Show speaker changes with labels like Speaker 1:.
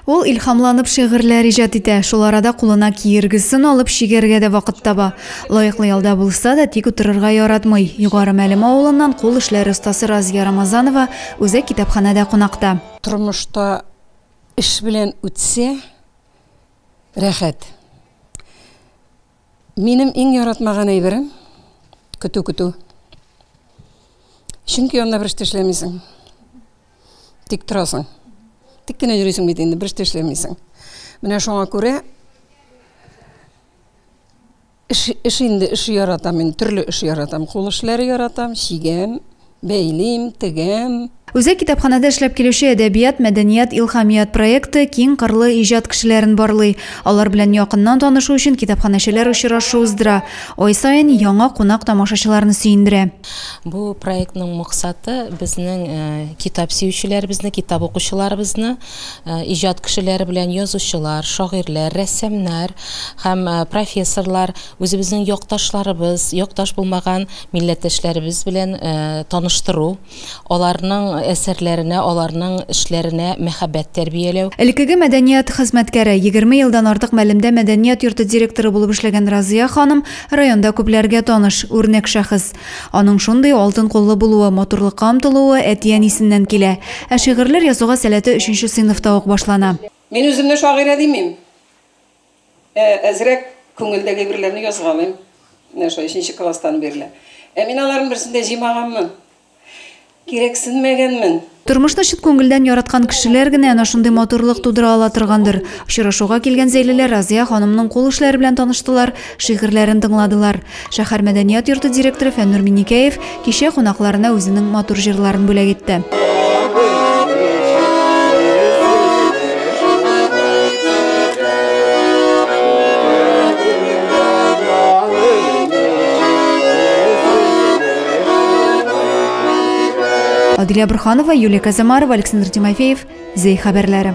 Speaker 1: Ул илһамланып шигырьләр иҗат итә, шул арада кулына киергесен алып чигәргә дә вакыт таба. Лаеклы ялда булса да, тик утырырга яратмый. Югары Мәлем авылыннан кул эшләре остасы Разия Рамазанова үзәк китапханәдә кунакта. Тормышта эш белән үтсә, рәхәт. Минем иң яратмаган әйберем, көтү көтү. Чөнки анда бер эштә эшләмисең. Тик торасың. Тик кенә йөрисең бит инде, бер эштә эшләмисең. Менә шуңа күрә эш, эш инде эш яратам, мин төрле эш яратам. Кул эшләре яратам, чигәм, Бәйлим, тегәм. Үзәк китапханәдә эшләп килүче Әдәбият, мәдәният, илһамият проекты киң кырлы иҗат кешеләрен барлый. Алар белән якыннан танышу өчен китапханәчеләр очрашу уздыра. Ай саен яңа кунак тамашачыларны сөендерә. Бу проектның максаты, безнең китап сөючеләребезне, китап укучыларыбызны иҗат кешеләре белән, язучылар, шагыйрьләр, рәссамнар һәм профессорлар үзебезнең якташларыбыз, якташ булмаган милләттәшләребез белән таныштыру, аларның әсәрләренә, аларның эшләренә мәхәббәт тәрбияләү. Элеккеге мәдәният хезмәткәре, егерме елдан артык Мәлемдә мәдәният йорты директоры булып эшләгән Разыя ханым районда күпләргә таныш, үрнәк шәхес. Аның шундый алтын куллы булуы, матурлыкка омтылуы әти-әнисеннән килә. Ә шигырьләр язуга сәләте өченче сыйныфта ук башлана. Мин үземне шагыйрә димим. Ә әзрәк күңелдәге әйберләрне язгалыйм. Менә шулай өченче класстан бирле. Ә мин аларның берсен дә җыймаганмын. Кирәксенмәгәнмен. Тормышны чын күңелдән яраткан кешеләр генә әнә шундый матурлык тудыра ала торгандыр. Очрашуга килгән зәйлеләр Разыя ханымның кул эшләре белән таныштылар, шигырьләрен тыңладылар. Шәһәр мәдәният йорты директоры Фәннур Миникәев кичә кунакларына үзенең матур җырларын бүләк итте. Адилә Бурханова, Юлия Казамарова, Александр Тимофеев, Зей хәбәрләре.